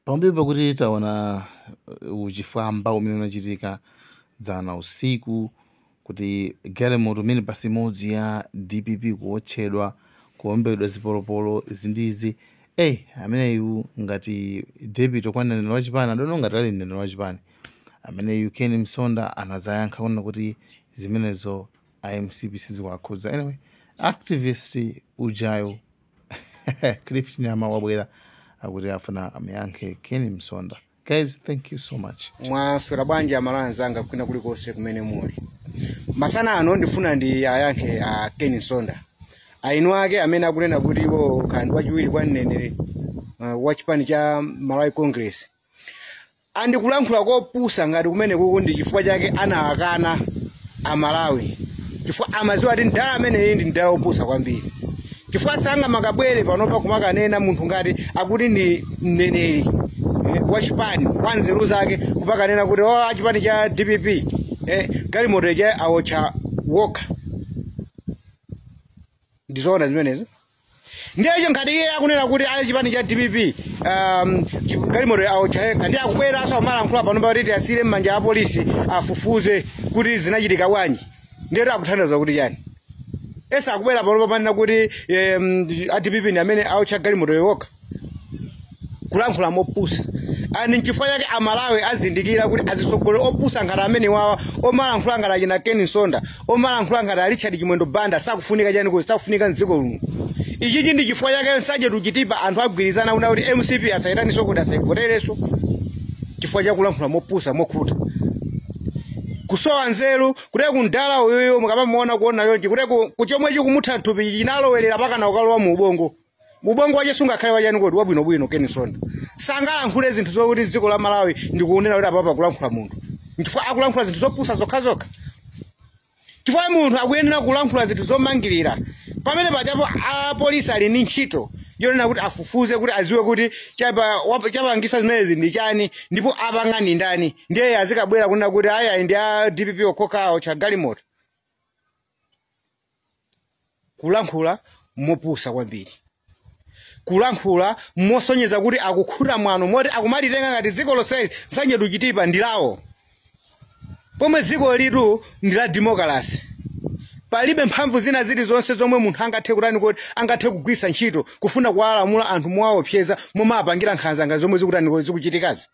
pambuyo pakuti taona uh, uchifwamba umene unachitika dzana usiku kuti galimoto minibasi imodzi ya dpp kuotchedwa kuombedwa zipolopolo ndi izi eh ameneyu ngati deputy kwa mneneri wa chipani I don't know ngati ali mneneri wa chipani ameneyu ken msonda anazayankha kunena kuti zimenezo a mcp sizikuwakhudza anyway activist ujayo cliff nyama wabwera akuti afuna amuyankhe a ken msonda guys thank you so much mwaswera bwanji amalawi anzanga kwina kulikonse kumene muli masana ano ndifuna ndiwayankhe a ken msonda aini ake amene akunena kuti iwo kaya ndi wachiwiri kwa mneneri uh, wa chipani cha malawi congress and kulankhula kopusa ngati kumenekuku ndi chifukwa chake anawakana amalawi chifukwa amaziwa kuti mdala ameneyu ndi mdala opusa kwambiri chifukwa sangamakabwere panopa kumakanena munthu ngati akuti ndi mneneri eh, wa chipani wa nzeru zake kumakanena kuti oh a chipani cha dpp eh, galimoto ija awotcha okha ndizoona zimenezo ndiye so ngati iye akunena kuti a chipani cha dpp um, chi- galimoto awotcha okha ndiye akubweranso amalankhula panopa kuti tiyasire m'manja a polisi afufuze kuti zinachitika bwanji ndiyetu akutanthauza kuti chani if so akubwera panopa kumanena kuti um, a dpp ndi amene aotcha galimoto okha kulankhula mopusa and nchifukwa chake amalawi azindikira kuti azitsogoleri opusa ngati amenewawa omalankhula ngati achina ken msonda omalankhula ngati a richard chimwendo banda sakufunika chani kodi sakufunika mdziko lino ichichi ndi chifukwa chake nsanje to chitipa anthu agwirizana kunena kuti mcp asayitaninso kodi asayivoterenso chifukwa chakulankhula mopusa mokhuta kusowa nzeru kuti kaya mdala uyuyu mukamamuona kuona yonji kuti kaya chomwe chikumutha nthupi chinalowerera mpaka kukalowa mu ubongo ubongo wakewo sungakhale wachani kodi wabwinobwino ken msonda sangalankhule zinthu zokuti dziko la malawi lingonena kuti apapa akulankhula munthu nchifukwa akulankhula zinthu zopusa zokhazokha chifukwa munthu akuyenera kulankhula zinthu zomangirira pamene pajapo apolisi ali ndi ntchito yonena kuti afufuze kuti aziwe kuti chapa- wap- chapangisa zimenezi ndi chani ndipo apanga ndi ndani ndiye azikabwera kunena kuti ayayi ndi a dpp okhaokha awotcha galimoto kulankhula mopusa kwambiri kulankhula mosonyeza kuti akukhuta mwano moti akumalitenga ngati dziko lonseli nsanje to chitipa ndi lawo pomwe dzikolitu ndi la demokalasi palibe mphamvu zina zilizonse zomwe munthu angathe kutani kodi angathe kugwiritsa ntchito kufuna kuwalamula anthu mowaopseza momwe apangira nkhanza ngati zomwe zikutani kodi zikuchitikazi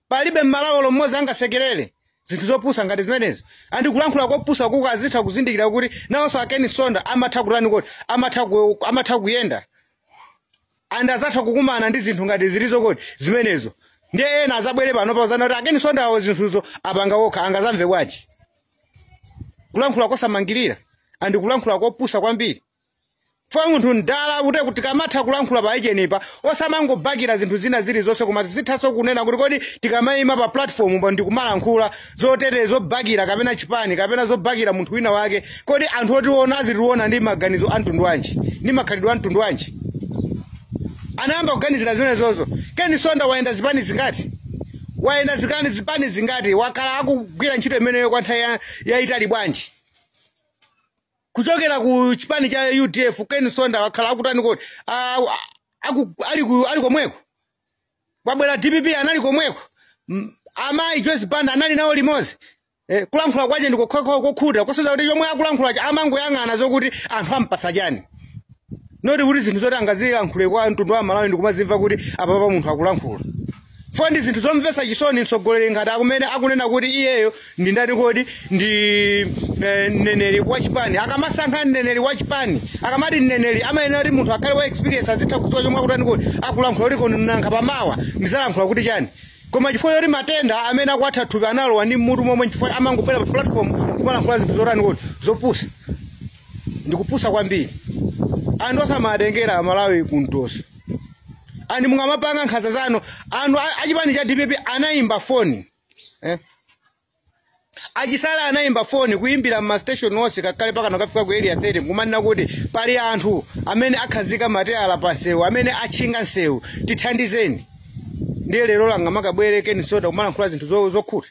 Palibe m'Malawi olo mmodzi angasekelere zinthu zopusa ngati zimenezo. Andi kulankhula kopusa kuko azitha kuzindikira kuti nawonso a Ken Msonda amatha kutani kodi amatha ku, amatha kuyenda and azatha kukumana ndi zinthu ngati zilizo kodi zimenezo. Ndiye ena azabwere panopa azanene kuti a Ken Msonda awo zinthuzo apanga wokha angazamve bwanji? Kulankhula kosamangirira andi kulankhula kopusa kwambiri. Chifukwa munthu mdala akute kuti tikamatha kulankhula pa age inapa osamangobakira zinthu zina zilizonse koma tizithanso kunena kuti kodi tikamaima pa platform apa ndikumalankhula zotere zobakira kapena chipani kapena zobakira munthu wina wake kodi anthu otiona azitiona ndi maganizo a mtundu wanji ndi makhalidwe a mtundu wanji anayamba kuganizira zimenezozo ken msonda wayenda zipani zingati wayenda zikani zipani zingati wakhala akugwira ntchito imeneyo kwa nthawi ya- yayitali bwanji kuchokera ku chipani cha udf ken msonda wakhala akutani kodi Ah, ah, aku- ali ku- ali komweko yabwera dpp anali komweko M- amayi joyce banda anali nawo limodzi Eh, kulankhula kwake ndi kokhakha kokhuta kosonyeza kuti chomwe akulankhulacho amangoyang'ana zokuti anthu ampasa chani noti kuti zinthu zoti angazilankhule kwa mtundu wa malawi ndikumazimva kuti apapa munthu akulankhula chifukwa ndi zinthu zomvetsa chisoni mtsogoleri ngati amene akunena kuti iyeyo ndi ndani kodi ndi eh, mneneri wa chipani akamasankha mneneri wa chipani akamati mneneri amayenera kuti munthu akhale wa experience azitha kudziwa chomwe akutani kodi akulankhula kuti koma nanga pamawa ndizalankhula kuti chani koma chifukwa choti matenda amene akwatha mthupi analowa ndi mmutu momwe chifukwa amangobwera pa platform kumalankhula zinthu zotani kodi zopusa ndikupusa kwambiri andi osamatengera amalawi kumtoso andi mungamapanga nkhanza zanu anthu a- achipani cha dpp anayimba foni eh? achisala anayimba foni kuyimbira mmastation onse kakale mpakana kufika ku area 30 kumanena kuti pali anthu amene akhazika matayala pa nsewu amene atchinga nsewu tithandizeni ndiye lero angamakabwere ken msonda kumalankhula zinthu zo- zokhuta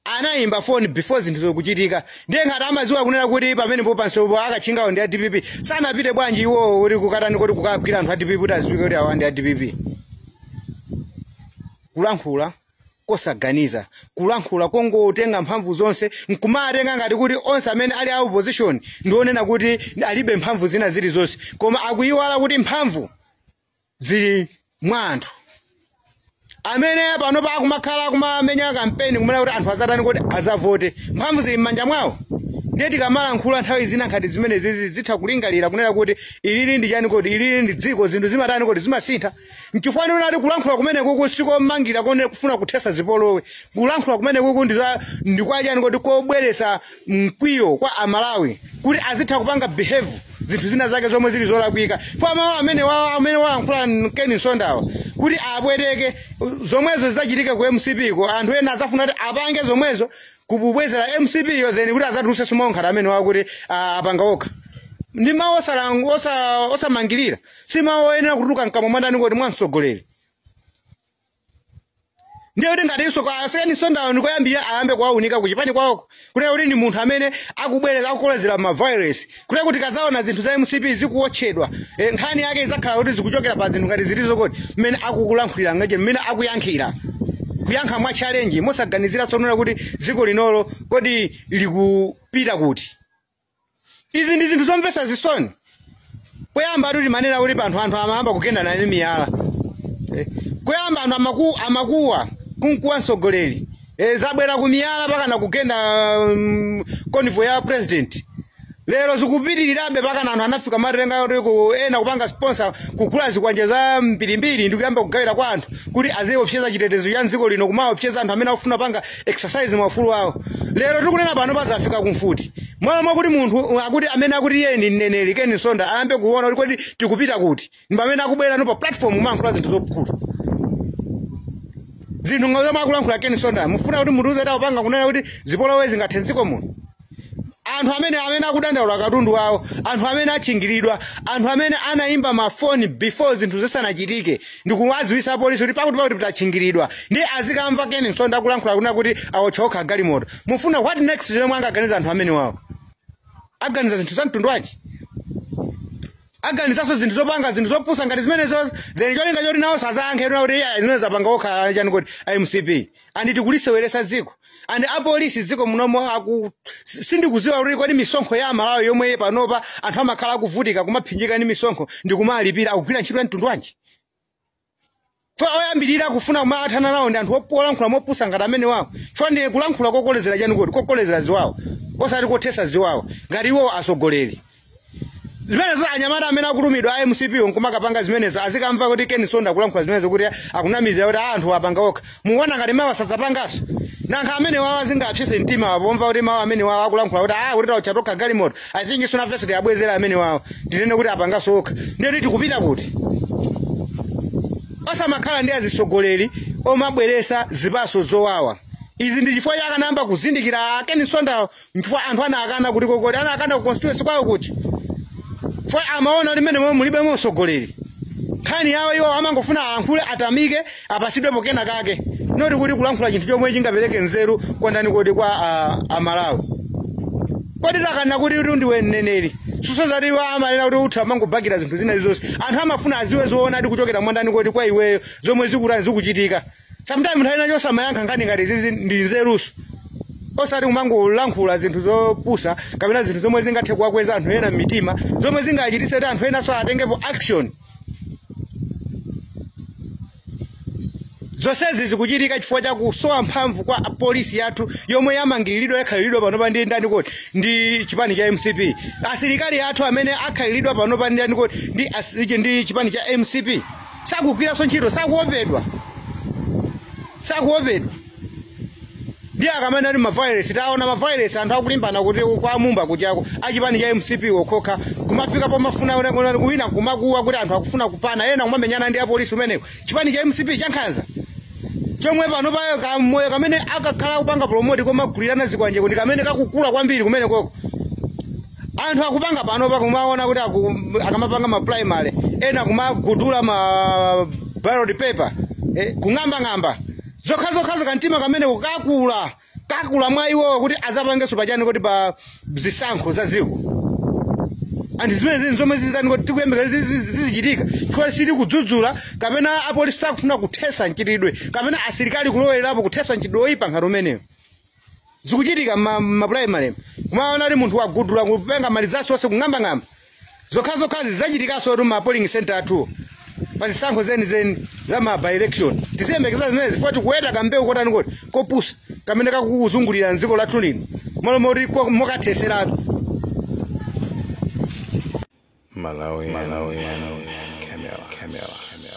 anayimba foni before zinthuzo kuchitika ndiye ngati amaziwa kunena kuti pamenepo pansewupo akatchingawo ndi a dpp sanapite bwanji iwowo kuti kukatani kodi kukagwira anthu a dpp kuti aziwike kuti awa ndi a dpp kulankhula kosaganiza kulankhula kongotenga mphamvu zonse nkumatenga ngati kuti onse amene ali a opposition ndi onena kuti alibe mphamvu zina zilizonse koma akuyiwala kuti mphamvu zili mwa anthu amene panopa akumakhala akumamenya kampeni kumene kuti anthu azatani kodi azavote mphamvu zili m'manja mwawo ndiye tikamalankhula nthawi zina ngati zimenezizi tizitha kulingalira kunena kuti ilili ndi chani kodi ilili ndi dziko zinthu zimatani kodi zimasintha nchifukwa ndiona kuti kulankhula kumenekuku sikomangira kunena kufuna kuthesa zipolowe kulankhula kumenekuku ndi za- ndi kwa chani kodi kobweretsa mkwiyo kwa amalawi kuti azitha kupanga behave zinthu zina zake zomwe zili zolakwika kwa mawu amene wa- amene wayankhula Ken Msondawa kuti abwereke zomwezo zidzachitika ku mcp ko anthu ena azafuna kuti apange zomwezo kubwezera mcp yo then kuti azatuluse zomayankha zimene zakuti ah, apanga okha ndi mawu osala- osa- osamangirira si mawu oyenera kutuluka mkamwa mwandani kuti mwamtsogoleri ndiye kuti ngatinso kwa a Ken Msondawo ndi koyambirira ayambe kuwaunika kuchipani kwawoko kunena kuti ndi munthu amene akubweresa akukolezera ma violence kunena kuti kazaona zinthu za mcp zikuwotchedwa eh, nkhani yake izakhala kuti zikuchokera pa zinthu ngati zimenezo kuti mmene akulankhulira ngati mmene akuyankhira kuyankha mwa challenge mosaganizira zonena kuti dziko linolo kodi likupita kuti izi ndi zinthu zomvetsa zisoni poyamba tu timanena kuti panthu anthu amayamba kugendana ndi miyala Eh, kuyamba anthu amaku, amakuwa kumkuwa mtsogoleri e, zabwera ku miyala pakana kugenda um, convoy ya president lero zikupitirirabe pakana anthu anafika pa stage yoti ku ena kupanga sponsor kugula zikwanje zambirimbiri ndi kuyamba kugawira kwa anthu kuti aziopseza chitetezo cha mdziko lino kumaopseza anthu amene akufuna kupanga exercise maufulu awo lero tikunena pano pazafika kumfuti m'malo mwakuti munthu akuti amene akuti iye ndi mneneri Ken Msonda ayambe kuona kuti kodi tikupita kuti ndi pamene akubwera no pa platform kumayankhula zinthu zopusa zinthu ngati zomwe akulankhula Ken Msonda mufuna kuti munthu uziti akupanga kunena kuti zipolowe zingathe mdziko muno anthu amene amene akudandaula katundu wawo anthu amene atchingiridwa anthu amene anayimba mafoni before zinthu zisanachitike ndikuwaziwisa polisi kuti pakuti pakuti tatchingiridwa ndi azikamva Ken Msonda akulankhula kunena kuti awotcha okha galimoto mufuna what next zomwe angaganiza anthu amene wawo aganiza zinthu za mtundu wanji aganizanso zinthu zopanga zinthu zopusa ngati zimenezo then cholinga choti nawoso azayankhe kuti iye zimene zapanga okha chani kuti mcp and tikuliseweresa dziko and apolisi dziko munomo aku si- sindikuziwa kuti kodi misonkho ya amalawi yomwe panopa anthu amakhala akuvutika kumapsinjika ndi misonkho ndikumalipira akugwira ntchito ya mtundu wanji fo oyambirira kufuna kumathana nawo ndi anthu op- olankhula mopusa ngati amene wawo fo ndi kulankhula kokolezera chani kuti kokolezera ziwawo osati kothesa ziwawo ngati iwo asogoleri zimenezo anyamata amene akutumidwa a mcp nkumakapanga zimenezo azikamva kuti Ken Msonda akulankhula zimenezo kuti akunamizira kuti "Ah, anthu apanga okha mukuona ngati mawa sadzapanganso mayankho amene wawo angathise mtima wawo pomva kuti mawu amene wawo akulankhula kuti ah kuti tawotcha tokha galimoto i think nafenso tiwabwezere amene wawo tinene kuti apanganso okha ndiye kuti tikupita kuti osamakhala ndi azitsogoleri omabweresa zipaso zowawa izi ndi chifukwa chake akanayamba kuzindikira a Ken Msondawo Nchifukwa anthu anakana kuti kokoli anakana ku constituency kwawo kuti ife amaona kuti mmene momwe mulibemo mtsogoleri nkhani yawo iwo amangofuna alankhule atamike apasidwepo kenakake noti kuti kulankhula chinthu chomwe chingapereke nzeru kwa ndani kodi kwa ah, amalawi kodi takana kuti kuti ndiwe mneneri siso zoti iwo amanena kuti utha amangobakira zinthu zina zonse anthu amafuna aziwe zoonadi kuchokera mwa ndani kodi kwa iweyo zomwe zikutani zikuchitika sometime nthawi ina chonde amayankha nkhani ngati zizi ndi nzeruso osati kumangolankhula zinthu zopusa kapena zinthu zomwe zingathe kuwakweza anthu ena m'mitima zomwe zingachititse kuti anthu enanso atengepo action zonsezi zikuchitika chifukwa cha kusowa mphamvu kwa polisi yathu yomwe yamangiriridwa yakhaliridwa panopa ndi ndani kodi ndi chipani cha mcp asilikali athu amene akhaliridwa panopa ndi ndani kodi ndi, asi- ndi chipani cha mcp sakugwiranso ntchito sakuopedwa sakuopedwa ndiye akamene ali mavairesi taona mavairesi anthu akulimbana kuti kwa mumba kuti ako achipani cha mcp okhaokha kumafika pomafuna una- una- wina kumakuwa kuti anthu akufuna kupana ena kumamenyana ndi apolisi umeneko chipani cha mcp chankhanza chomwe pano payo kamoyo kamene akakhala kupanga promoti komagulirana zikwanje kuti kamene kakukula kwambiri kumene koko anthu akupanga panopa kumaona kuti aku- akamapanga ma primary ena kumagudula ma ballot paper eh, kung'ambang'amba zokhazokhazo kamtima kamene kukakula kakula mwa iwowo kuti azapangenso pa chani kuti pa zisankho za dziko anthu zimenezi ndi zomwe zizitani kodi tikuyembekeza zizichitika chifukwa sali kudzudzula kapena apolisi sakufuna kuthesa mchitidwe kapena asilikali kulowelerapo kuthesa mchitidwe oyipa ngati umenewo zikuchitika ma, ma primary kumaona kuti munthu wagudula kupenga mali zathu onse kung'ambang'amba zokhazokhazi zachitikansotu ma polling center athu pa zisankho zenizeni za ma by election tiziyembekeza zimenezi chifukwa tikuweta kambewu kotani kodi kopusa kamene kakuzungulira mdziko lathu lino malo moti ko- mokatheseratu Malawi, Malawi, Malawi, Camera, Camera, Camera.